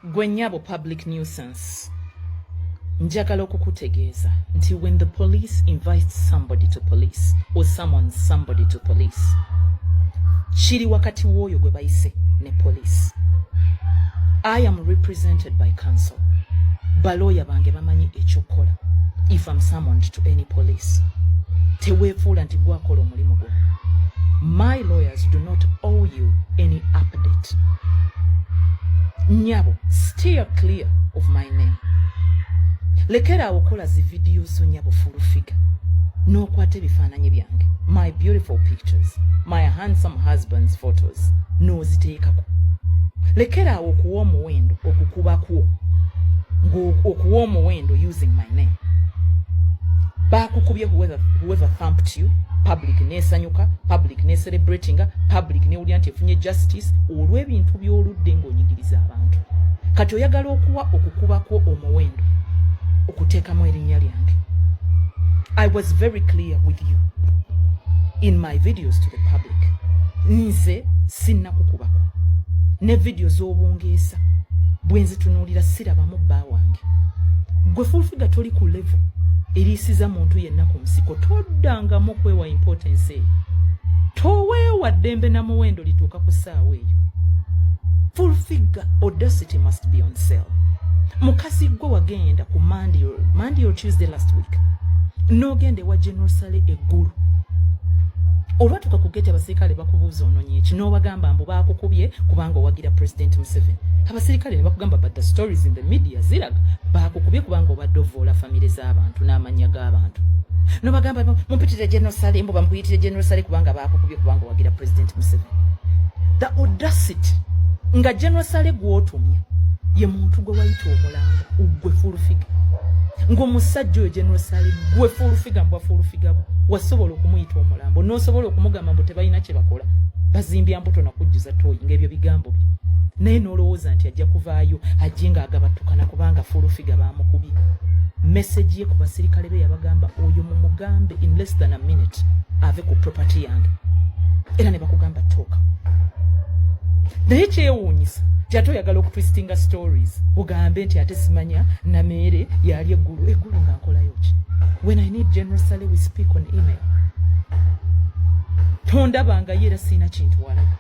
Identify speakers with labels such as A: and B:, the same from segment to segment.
A: gwe nyabo public nuisance njagala okukutegeeza nti when the police invites somebody to police or someone somebody to police kiri wakati w'oyo gwe bayise ne police i am represented by council balooya bange bamanyi ekyokukola if am summoned to any police teweefuula nti gwakola omulimu gwo my lawyers do not owe you any update nyabo steer clear of my name lekera awo kola zi video zo nyabo full figure n'okwata ebifaananyi byange my beautiful pictures my handsome husband's photos n'oziteekako lekera awo okuwa omuwendo okukuba kwo okuwa omuwendo using my name bakukubye whoever, whoever thumped you public nesanyuka public necelebratinga public newulira nti efunye justice olw'ebintu by'oludde ng'onyigiriza abantu kati oyagala okuwa okukubako omuwendo okuteekamu erinnya lyange i was very clear with you in my videos to the public nze sinna kukubako ne vidiyo z'obungeesa bwe nzitunuulira sirabamu bba wange gwe fulfiga toli ku levo eriisiza muntu yenna ku nsiko toddangamu kwewa importance eyo toweewadde dembe na muwendo lituuka ku saawa eyo full figure audacity must be on sale mukazi gwe wagenda ku monday or, monday or tuesday last week nogenda ewa general sale eggulu olwatuuka ku geti abasirikale bakubuuza ononye eki nobagamba mbu bakukubye kubanga owagira president museveni abasirikale nebakugamba but the stories in the media ziraga bakukubye kubanga obadde ovoola famire z'abantu n'amannya g'abantu nobagamba mupitire general sale mbu bamukuyitire general sale kubanga akukubye kubanga wagira president museveni the audacity nga general sale gwotumya ye muntu gwe wayita omulamba ugwe fulufiga ngaomusajja oyo general sale gwe fulufiga mbwa fulufiga bwe wasobola okumuyita omulambo nosobola okumugamba mbu tebalina kyebakola bazimbya mbuto nakujjuza toyi ngaebyo bigambo bye naye nolowooza nti ajja kuvaayo ajje nga agabattukana kubanga fulufiga bamukubi meseji ye ku basirikale be yabagamba oyo mumugambe in less than a minute ave ku property yange era ne bakugamba tooka naye kyewuunyisa jate oyagala okutwistinga stories ugambe nti ate simanya nameere yali eggulu eggulu nga nkolayo ki when i need general sale we speak on email tondabangayo era siina kintu walaba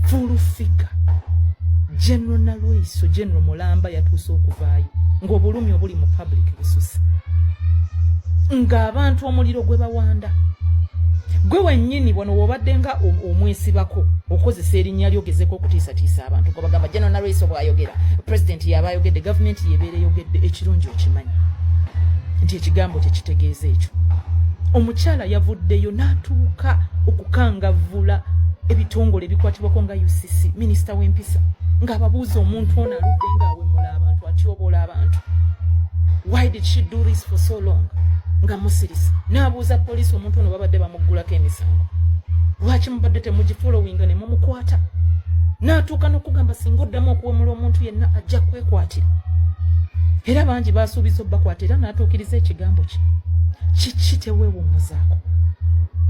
A: fulufiga general nalweiso general mulamba yatuuse okuvaayo ng'obulumi obuli mu public bususa ng'abantu omuliro gwe bawanda gwe wenyini wano wobadde nga omwesibako okozesa erinnya lyo gezeko okutiisatiisa abantu gwe bagamba general naraiso bwayogera president yaba ayogedde gavumenti yebeera eyogedde ekirungi okimanyi nti ekigambo kyekitegeeza ekyo omukyala yavuddeyo n'atuuka okukangavvula ebitongole ebikwatibwako nga ucc minisita w'empisa ng'ababuuza omuntu ono aludde nga awemula abantu atyoboola abantu why did she do this for so long nga musirisa n'abuuza poliisi omuntu ono babadde bamuggulako emisango lwaki mubadde temugifolowinga ne mumukwata n'atuuka n'okugamba singa oddamu okuwemula omuntu yenna ajja kwekwatira era bangi baasuubiza obubakwata era n'atuukiriza ekigambo kye kiki teweewummuzaako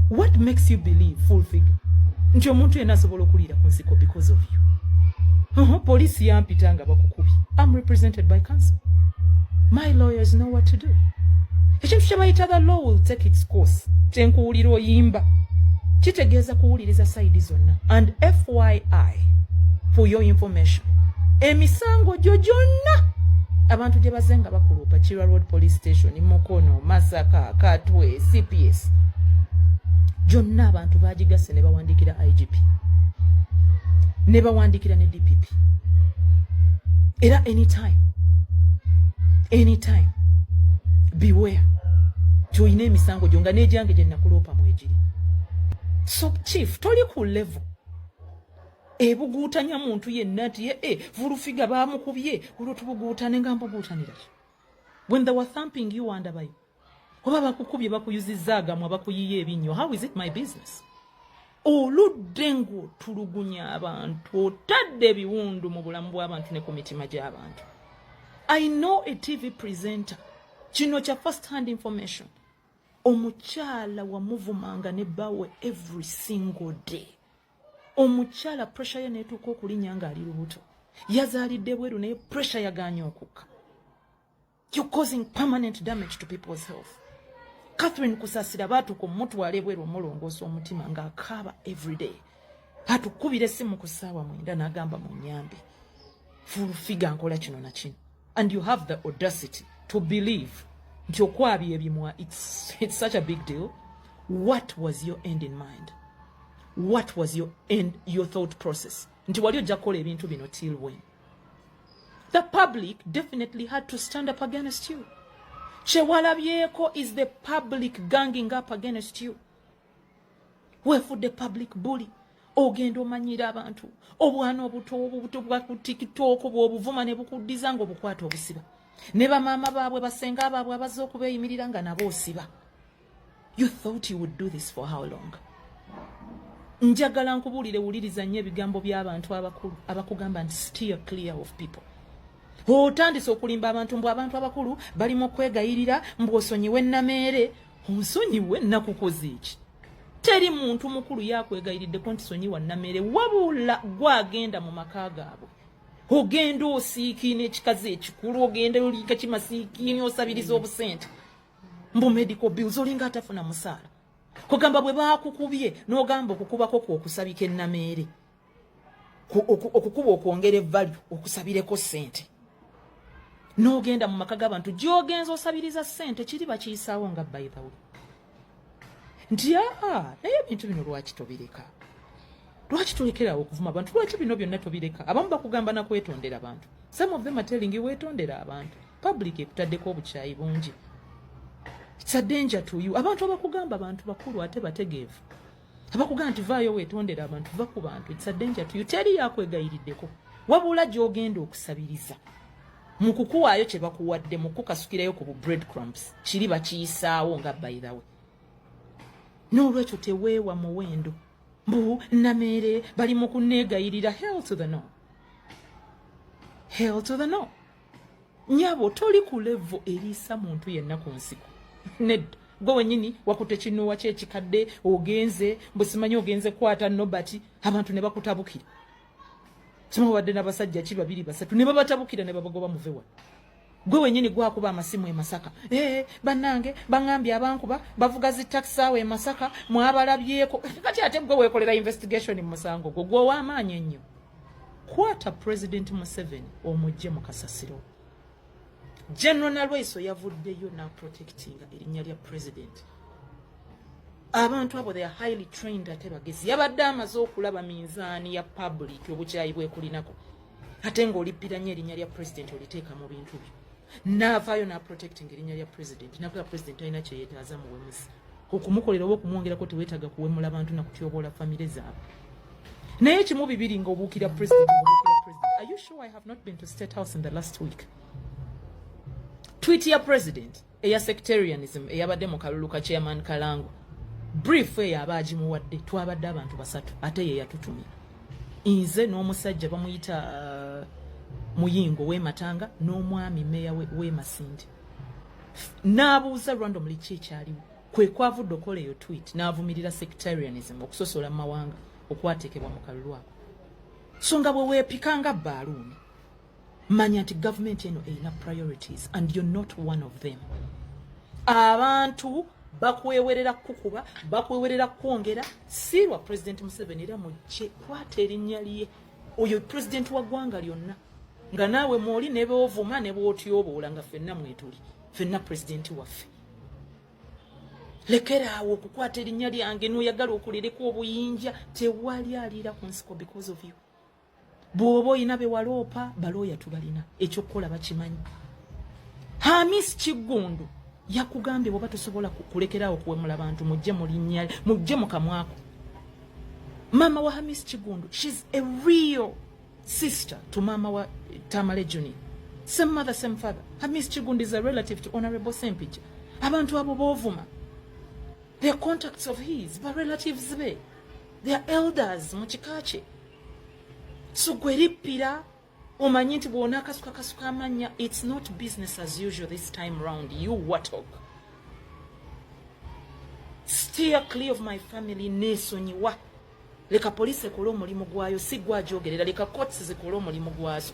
A: what makes you believe full figure nti omuntu yenna asobola okuliira ku nsiko because of you poliisi yampita nga bakukubi am represented by council my lawyers know what to do ekintu kyebayita the law will take its course tenkuwulira oyimba kitegeeza kuwuliriza sayidi zonna and fyi for your information emisango gyo gyonna abantu gye baze nga bakuluupa kirwa road police station mukono masaka katwe cps gyonna abantu bagigasse ne bawandiikira igp ne bawandiikira ne dpp era anytime anytime beware tolina emisango gyo nga n'egyange gye nakuloopa mwegiri so chief toli ku level ebuguutanya muntu yenna nti ye eh, vulufiga baamukubye olwo tubuguutane nga mbuguutanira when they were thumping you andabayo oba bakukubye bakuyuzizza agamwa bakuyiye ebinnyo how is it my business oludde ng'otulugunya abantu otadde ebiwundu mu bulamu bw'abantu ne ku mitima gy'abantu i know a tv presenter kino kya first hand information omukyala wamuvumanga ne bawe every single day omukyala presha ye netuuka okulinya ng'ali lubuto yazaalidde bweru naye presha yaganye okukka You're causing permanent damage to people's health. Catherine Kusasira batuko mutwala ebweru omulongoosa omutima nga akaaba everyday. Batukubira essimu ku ssaawa mwenda n'agamba mu nnyambe. Full figure nkola kino na kino. And you have the audacity to believe nti okwabya ebimwa it's, it's such a big deal. What was your end in mind? What was your end, your thought process? Nti wali ojja kukola ebintu bino till when? the public definitely had to stand up against you kyewalabyeko is the public ganging up against you wefudde public bully ogenda omanyira abantu obwana obuto obubuto bwa ku tiktok bwobuvuma ne bukuddiza nga obukwata obusiba ne bamaama baabwe basenga abaabwe abazze okubeeyimirira nga nabo osiba You thought you would do this for how long? Njagala nkubuulire wuliriza nnyo ebigambo by'abantu abakulu abakugamba nti steer clear of people. Otandise okulimba abantu mbu abantu abakulu bali mu kwegayirira mbu osonyiwe nameere onsonyiwe nakukoze eki? Teri muntu mukulu yakwegayiriddeko nti sonyiwa nameere wabula gwagenda mu maka gaabwe. Ogenda osiikiina ekikazi ekikulu ogenda oliika kimasiikiini osabiriza obusente. mbu medical bills olinga atafuna musaala kugamba bwe bakukubye n'ogamba okukubako kwokusabika ennameere okukuba okwongera evalu okusabireko sente n'ogenda mu maka g'abantu gyogenza osabiriza sente kiri bakiyisaawo nga baithaw nti aa naye ebintu bino lwaki tobireka lwaki tulekerawo okuvuma abantu lwaki bino byonna tobireka abamu bakugamba nakwetondera abantu some of them are telling you wetondera abantu public ekutaddeko obukyayi bungi it's a danger to you abantu abakugamba abantu bakulu ate bategeevu abakugamba nti vaayo wetondera abantu va ku bantu it's a danger to you teri yakwegayiriddeko wabula gyogenda okusabiriza mu kukuwaayo kye bakuwadde mu kukukasukirayo ku bu bread crumbs kiri bakiyisaawo nga by the way n'olwekyo teweewa muwendo mbu nameere bali mu kunneegayirira hell to the no hell to the no nyabo toli ku levo eriisa muntu yenna ku nsiko nedda gwe wenyini wakute kinuwa kyekikadde ogenze busimanyi ogenze kwata nobat abantu ne bakutabukira sima wadde n'abasajja ki babiri basatu ne babatabukira ne babagoba muvewa gwe wenyini gwakuba amasimu emasaka ee eh, banange bangambye abankuba bavuga zi taxi awo emasaka mwabalabyeko kati ate gwe wekolera investigation mu musango gwo gwowa amaanyi ennyo kwata president museveni omujje mu kasasiro general nalweyiso yavuddeyo naprotectinga erinnya lya president abantu abo they are highly trained ate bagezi yabadde amaze okulaba minzaani ya public obukyayi bwekulinako ate ng'olippiranya erinnya lya president oliteeka mu bintu byo n'avaayo n'aprotecting erinnya lya president nakola president alina kyeyetaaza muwemuzi okumukolera oba okumwongerako teweetaaga kuwemula bantu nakutyoboola famire zaabwe naye kimu bibiri nga obuukira president obuukira president are you sure i have not been to state house in the last week tweet ya president eya sectarianism eyabadde mu kalulu ka chairman kalango brief eyo aba agimuwadde twabadde abantu basatu ate ye yatutumye nze n'omusajja bamuyita uh, muyingo wematanga n'omwami meya wemasindi n'abuuza randomly ki ekyaliwo kwe kwavudde okola eyo twit n'avumirira sectarianism okusosola mu mawanga okwateekebwa mu kalulu ako so nga bwe weepika nga baaluuni manya nti gavumenti eno erina priorities and you're not one of them abantu bakwewerera kukuba bakwewerera kwongera si lwa president museveni era mujje kwata erinnya lye oyo president wa ggwanga lyonna nga naawe mwoli nebeovuma nebwotyoboola nga fenna mwetuli fenna president waffe lekera awo okukwata erinnya lyange noyagala okulireka obuyinja tewali aliira ku nsiko because of you bwoba olina bewaloopa balooya tubalina ekyokukola bakimanyi hamis kiggundu yakugambye bwoba tosobola kulekerawo kuwemula bantu mujje mulinya mujje mukamwako maama wa hamis kiggundu shes a real sister to maama wa tamale juni same mother same father hamis kiggundu is a relative to honorable sempija abantu abo bovuma the contacts of his ba relatives be their elders mu kika kye so gwe lippira omanyi nti bwona akasuka kasuka amanya its not business as usual this time round you watok steer clear of my family nesonyiwa leka poliisi ekole omulimu gwayo si gwajogerera leka courts zikole omulimu gwazo